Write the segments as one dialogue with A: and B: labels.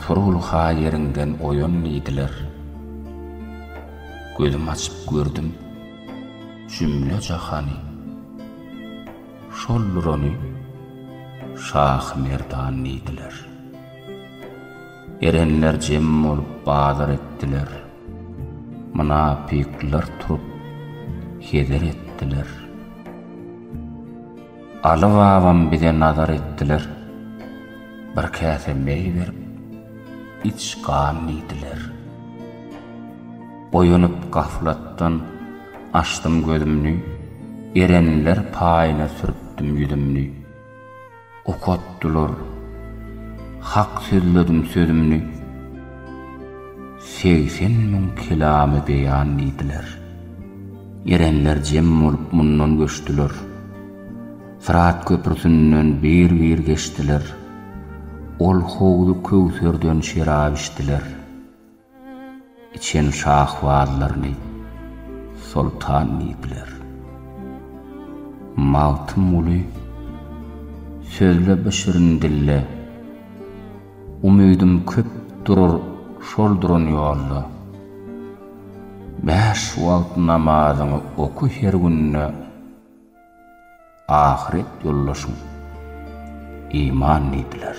A: Turul-ha ýeriňden oýan diýdiler. Gözüm açyp gördüm jümle jahany. Şoldur ony Şahy Merdan diýdiler. Erenler jem bolup bazar etdiler. Mynapyklar turup heder etdiler. Aly babam bize nazar etdiler, Bir käse meý berip, iç gan diýdiler. Oýanyp gaflatdan, açdym gözümni, Erenler paýyna sürtdüm ýüzümni. Okatdylar, hak sözledim sözümni. Segsen müň kelamy beýan diýdiler. Erenler jem bolup mundan göçdüler. Syrat köprüsinden bir-bir geçdiler. Ol howzy köwserden şerap içdiler. Içen şahbazlaryny soltan diýdiler. Magtymguly, Sözle bi şirin dille. Umydym köp durur şol duran ýolda. Bäş wagt namazyňy oky her günde Ahyret ýoldaşyň iman diýdiler.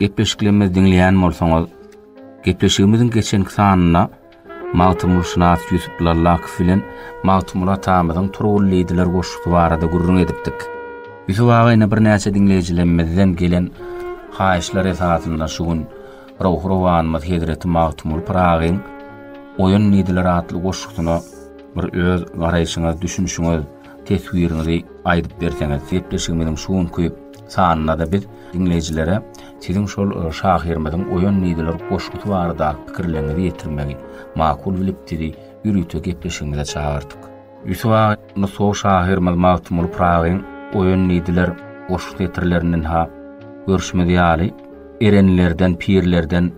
A: Gepleşiklerimizi diňleýän bolsaňyz, gepleşigimiziň geçenki sanynda Magtymgulyşynas Ýusup Lallakow bilen Magtymguly atamyzyň Turgullydylar goşgusy barada gürrüň edipdik. Ýusup aga ine birnäçe diňleýjilerimizden gelen haýyşlar esasynda şu gün ruhy-rowanymyz hezreti Magtymguly Pyragyň Oýan diýdiler atly goşgusyna bir öz garaýşyňyz, düşünişiňiz, teswiriňizi aýdyp berseňiz, gepleşigimiziň şu günki Sanynda-da biz diňleýjilere siziň şol şahyrymyzyň Oýan nidler goşgusy baradaky pikirleriňizi ýetirmegi makul bilip sizi ýörite gepleşigimize çagyrdyk. Ýusup aga, nusgawy şahyrymyz Magtymguly Pyragyň Oýan nidler goşgusy setirlerinden-ha görşümiz ýaly, Erenlerden, pirlerden,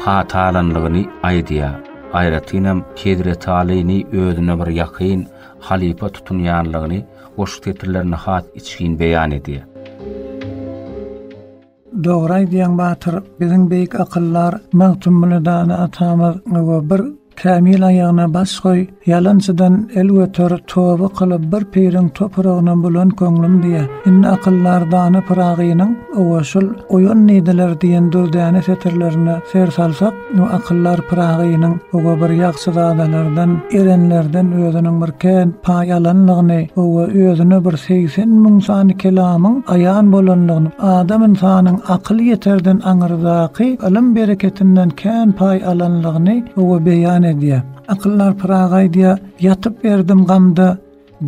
A: patalanlygyny aýdýar, aýratynam Hezretalyny özüne bir ýakyn halypa tutunýanlygyny goşgy setirlerinde has içgin beýan edýär. Dogry aýdýaň Batyr, biziň beýik akyllar Magtymguly Dana atamyz gowy bir Kämil aýagyna baş goý, ýalançydan el göter, toba kylyp, bir piriň topuragyna bulan köňlüm diýýä. Indi akyldar dana Pyragynyň Owa, şul Oýan nideler diýen dürdäne setirlerine ser salsak, bu akyldar Pyragynyň owa bir ýagşyzadalardan, erenlerden özüniň bir kän paý alanlygyny, owa, özüne bir segsen müň sany kelamyň aýan bolanlygyny, adam-ynsanyň akyl ýeterden aňyrdaky ylym-bereketinden kän paý alanlygyny, Agny owa beýan edýär. Akyllar Pyragy aýdýar, Ýatyp erdim gamda,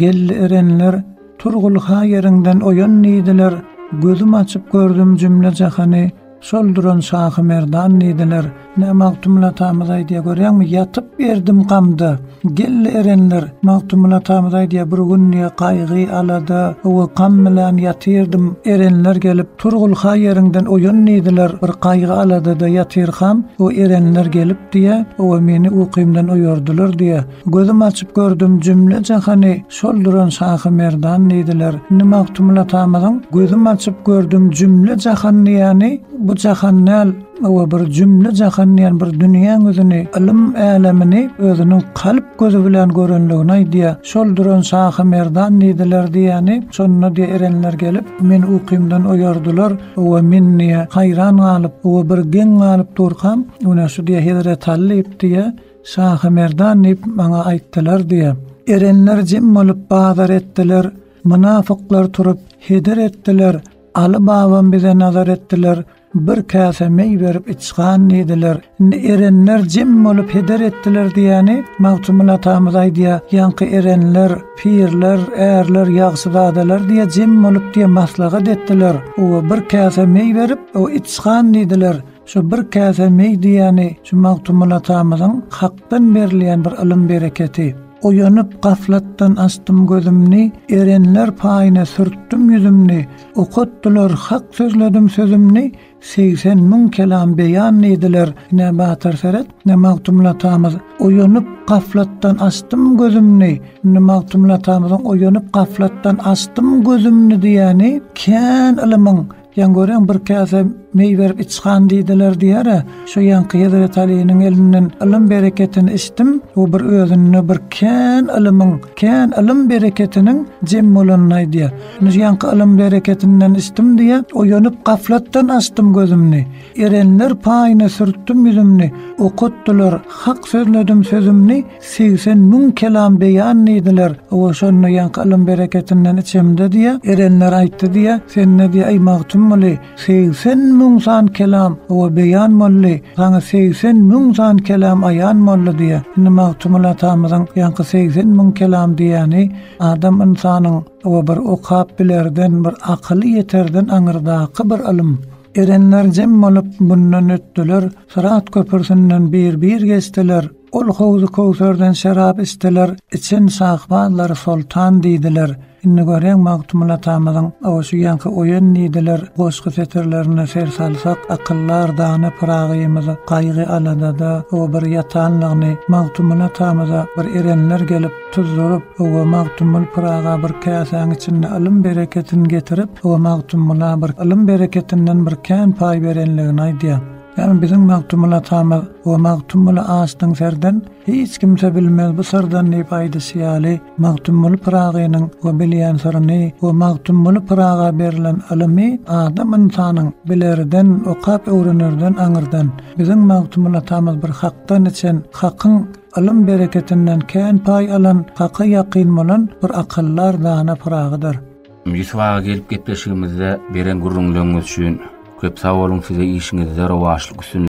A: geldi erenler, Turgul ha ýeriňden oýan diýdiler, Gözüm açyp gördüm jümle jahany, Şol duran Şahy Merdan diýdiler. Ine, Magtymguly atamyz aýdýar, görýäňmi, Ýatyp erdim gamda, geldi erenler. Magtymguly atamyz aýdýar, Bir gün diýýär, gaýgy, alada, owa, gam bilen ýatyrdym, erenler gelip, Turgulha ýeriňden oýan diýdiler, bir gaýgy-aladada ýatyrkam, o erenler gelipdi-ä, owa meni ukymdan oýardylar diýä. Gözüm açyp gördüm, jümle-jahany şol duran Şahy Merdan diýdiler. Indi Magtymguly atamyzyň Gözüm açyp gördüm, jümle-jahan diýýäni, bu jahan däl, owa bir jümle-jahan diýýän bir dünýäň özüni, ylym älemini özüniň kalp Gözi bilen görenligini aýdýa. Şol duran şahy merdan diýdiler diýýäni, şonda diýýä erenler gelip, meni ukymdan oýardylar, oba men diýýä haýran galyp, oba bir geň galyp durkam, ine şu diýýä Hezret Aly diýip diýýä, şahy merdan diýip maňa aýtdylar diýýä. Erenler jem bolup bazar etdiler, mynafyklar turup heder etdiler, Aly babam bize nazar etdiler, Bir käse meý berip iç gan diýdiler. Indi erenler jem bolup heder etdiler diýýäni Magtymguly atamyz aýdýa, Ýaňky erenler, pirler, ärler, ýagşyzadalar diýýä jem bolup diýýä maslahat etdiler. Oba bir käse meý berip, o iç gan diýdiler. Şu bir käse meý diýýäni şu Magtymguly atamyzyň Hakdan berilýän bir ylym bereketi. Oýanyp gaflatdan açdym gözümni, erenler paýyna sürtdüm ýüzümni. Okatdylar hak sözledim sözümni Segsen müň kelam beýan diýdiler Ine Batyr seret ine Magtymguly atamyz Oýanyp gaflatdan açdym gözümni Indi Magtymguly atamyzyň Oýanyp gaflatdan açdym gözümni diýýäni kän ylymyň ýa göreň bir käse Meý berip içhan diýdiler diýer-ä. Şu ýaňky Hezreti Alynyň elinden ylym bereketini içdim, bu bir özünde bir kän ylymyň, kän ylym bereketiniň jem bolanyny aýdýar. Indi şu ýaňky ylym bereketinden içdim diýýär, oýanyp gaflatdan açdym gözümni. Erenler paýyna sürtdüm ýüzümni, okatdylar hak sözledim sözümni, segsen müň kelam beýan diýdiler, owa şonda ýaňky ylym bereketinden içemde diýýär, erenler aýtdy diýýär, sende diýýär, eý Magtymguly, Segsen müň san kelam owa beýan boldy, Saňa segsen müň san kelam aýan boldy diýýär. Indi Magtymguly atamyzyň ýaňky segsen müň kelam diýýäni adam ynsanyň owa bir okap bilerden, bir akyly ýeterden aňyrdaky bir ylym. Erenler jem bolup mundan ötdüler, Syrat köpürsinden bir-bir geçdiler. Ol howzy köwserden şerap içdiler, içen şahbazlary soltan diýdiler. Indi görýäň Magtymguly atamyzyň, Awa şu ýaňky Oýan diýdiler goşgy setirlerine ser salsak, akyldar dana Pyragymyzy gaýgy-aladada, ow, bir ýatanlygyny, Magtymguly atamyza bir erenler gelip, tuzduryp, ow, Magtymguly Pyraga bir käsäň içinde ylym-bereketin getirip, ow, Magtymgula bir ylym-bereketinden bir kän paý berenligini aýdýar. Ýagny biziň Magtymguly atamyz we Magtymguly açdyň serden, hiç kimse bilmez bu syrdan diýip aýdyşy ýaly, Magtymguly Pyragynyň we bilýän syryny we Magtymguly Pyraga berlen ylymy adam ynsanyň bilerden, okap öwrenerden aňyrdan, biziň Magtymguly atamyz bir hakdan içen, hakyň ylym bereketinden kän paý alan, haka ýakyn bolan bir akyldar dana Pyragydyr. Ýusuf aga gelip gepleşigimizde beren gürrüňleriňiz üçin köp sag boluň size işiňizde rowaçlyk üstünlik.